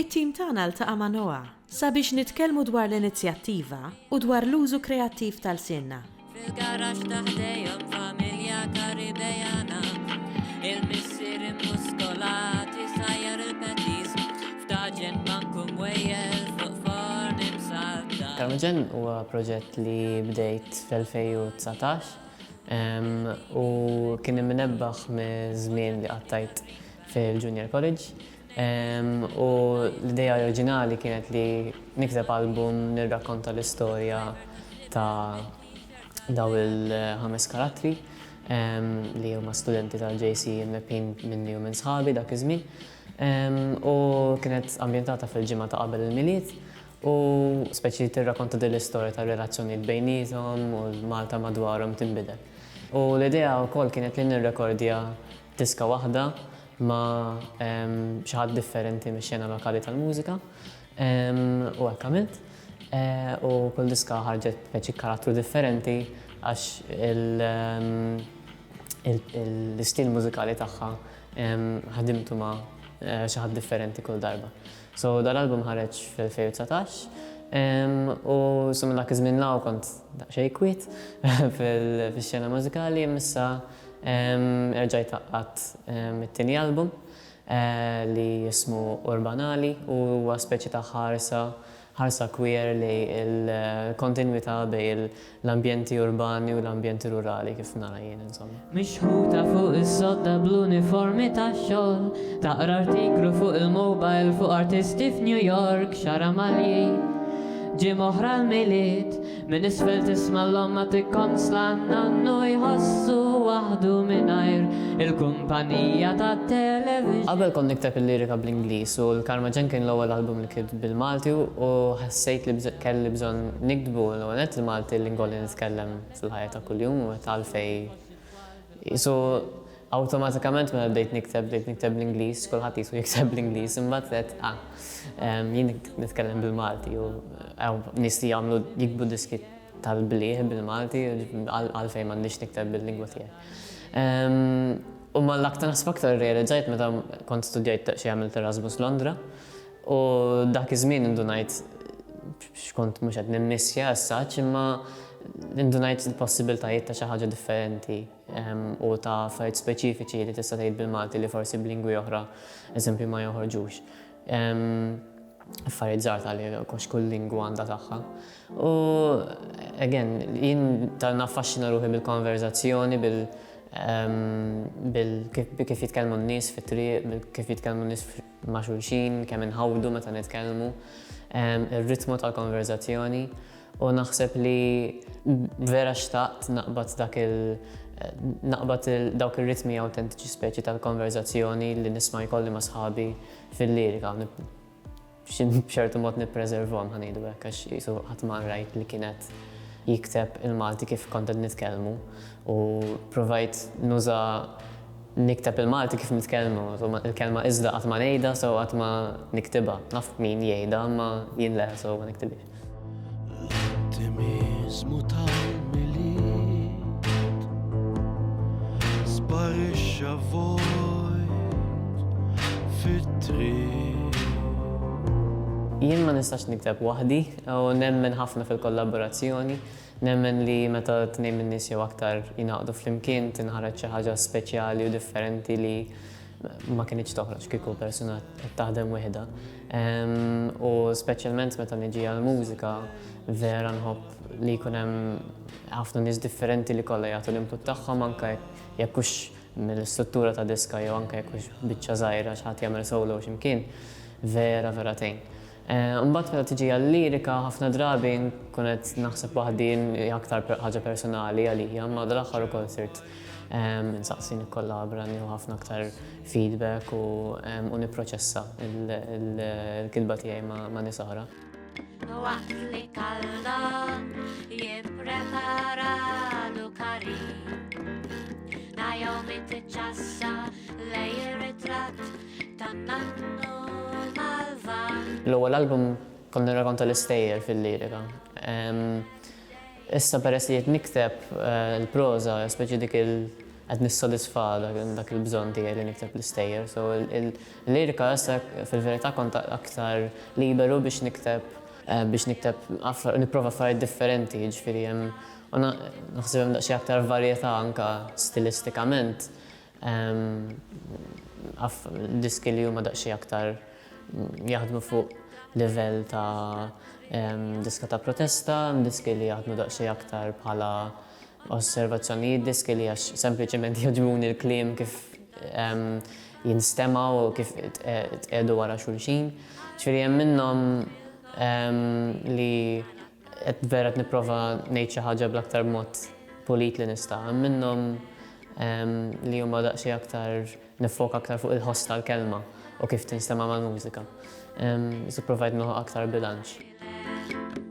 It-tim tagħna ltaqa' ma' Noa sabiex nitkellmu dwar l-inizjattiva u dwar l-użu kreattiv ta' lsienna. Fil-garaxx ta' ħdejhom familja Karibejana, il-missier immuskolat isajjar il-petis f'taġen banku mwejjel fuq forn imsaddar. Taġen huwa proġett li bdejt fl-2019 u kien imnebbaħ miż-żmien li qattajt fil-Junior College. U l-idea oriġinali kienet li nikteb album nirrakkonta l-istorja ta' dawn il-ħames karattri li huma studenti tal-JC imlebbħin minni u minn sħabi dak iż-żmien. U kienet ambjentata fil-ġimgħa ta' qabel il-Milied u speċi tirrakkonta din l-istorja tar-relazzjonijiet bejniethom u l-Malta madwarhom tinbidel. U l-idea wkoll kienet li nirrekordja Diska waħda ma' xi ħadd differenti mix-xena lokali tal-mużika u hekk għamilt. U kull diska ħarġet b'peċi karattru differenti għax l-istil mużikali tagħha ħdimtu ma' xi ħadd differenti kull darba. So dal-album ħareġ fl-2019 u so minn dak iż-żmien 'l hawn kont daqsxejn kwiet fix-xena mużikali imma issa Erġajt għaqqadt it-tieni album li jismu Urbanali u huwa speċi ta' ħarsa, ħarsa queer lej il-kontinwità bejn l-ambjenti urbani u l-ambjenti rurali kif nara jien insomma. Mixħuta fuq is-sodda bl-uniformi tax-xogħol, taqra artiklu fuq il-mobile fuq artisti f'New York, xaramagħli, ġimgħa oħra l-Milied, Minn isfel tisma' l-omma tikkonsla n-nannu jħossu waħdu mingħajr il-kumpanija tat-television. Qabel kont nikteb il-lirika bl-Ingliż u l-Karma Ġenn kien l-ewwel album li kitt bil-Malti u ħassejt li kelli bżonn nikdbu l-ewwel nett il-Malti l-lingwa li nitkellem fil-ħajja ta' kuljum u għalfejn Qisu awtomatikament mela bdejt nikteb, bdejt nikteb bl-Ingliż, kulħadd qisu jikteb bl-Ingliż, imbagħad qed ah, ehm, jien nitkellem bil-Malti u nies li jagħmlu jikbu diski tal-blieh bil-Malti għalfejn m'għandix nikteb bil-lingwa tiegħi. Ehm, u mal-aktar aktar realizzajt meta kont studjajt xi għamilt Erasmus Londra, U dak iż-żmien indunajt x'kont mhux qed nimmissja as-such imma indunajt il-possibiltajiet ta' xi ħaġa differenti ehm, u ta' affarijiet speċifiċi li tista' tgħid bil-Malti li forsi b'lingwi oħra eżempju ma joħorġux. Ehm, affarijiet żgħar ta' li kox kull lingwa għandha tagħha. U again, jien ta' naffaxxina ruħi bil-konverzazzjoni, bil ehm, kif jitkellmu n-nies fit-triq, kif jitkellmu n-nies ma' xulxin, kemm inħawdu meta nitkellmu, ir-ritmu tal-konverżazzjoni u naħseb li vera xtaqt naqbad dak il naqbad dawk ir-ritmi awtentiċi speċi tal-konverżazzjoni li nisma' jkolli ma' sħabi fil-lirika u b'ċertu mod nippreservhom ħa ngħidu hekk għax qisu qatt ma rajt li kien qed jikteb il-Malti kif kont qed nitkellmu u provajt nuża Nikteb il-Malti kif nitkellmu, insomma il-kelma iżda qatt ma ngħidha so qatt ma niktibha. Naf min jgħidha imma jien le so ma niktibhiex. L-ottimiżmu tal-Milied sparixxa vojt fit-triq. Jien ma nistax nikteb waħdi u nemmen ħafna fil-kollaborazzjoni. Nemmen li meta tnejn min-nies jew aktar jingħaqdu flimkien tinħareġ xi ħaġa speċjali u differenti li ma kinitx toħroġ kieku persuna qed taħdem wieħda. U speċjalment meta niġi għall-mużika vera nħobb li jkun hemm ħafna nies differenti li kollha jagħtu l-input tagħhom anke jekk hux mill-istruttura ta' diska jew anke jekk hux biċċa żgħira xi ħadd jagħmel solo xi mkien vera vera tgħin. Imbagħad meta tiġi għal-lirika ħafna drabi nkun qed naħseb waħdi hija aktar ħaġa personali għalija imma dal-aħħar ukoll sirt insaqsi nikkollabra nieħu ħafna aktar feedback u nipproċessa l-kitba tiegħi ma' nies oħra. L-ewwel album kont nirrakonta l-istejjer fil-lirika. Issa peress li qed nikteb il-proża, speċi dik il qed nissodisfa dak il-bżonn tiegħi li nikteb l-istejjer. So il-lirika issa fil-verità kont aktar liberu biex nikteb biex nikteb nipprova affarijiet differenti, jiġifieri hemm u naħseb hemm daqsxejn aktar varjetà anke stilistikament. Naf diski li huma daqsxejn aktar jaħdmu fuq livell ta' diska ta' protesta, diski li jaħdmu daqsxejn aktar bħala osservazzjonijiet, diski li għax sempliċement jogħġbuni l-kliem kif jinstema' u kif tqiegħdu wara xulxin. Ġifieri hemm minnhom li Qed vera qed nipprova ngħid xi ħaġa bl-aktar mod pulit li nista'. Hemm minnhom li huma daqsxejn aktar niffoka aktar fuq il-ħoss tal-kelma u kif tinstema' mal-mużika. Iżda pprovajt nilħaq aktar bilanċ. Thank you.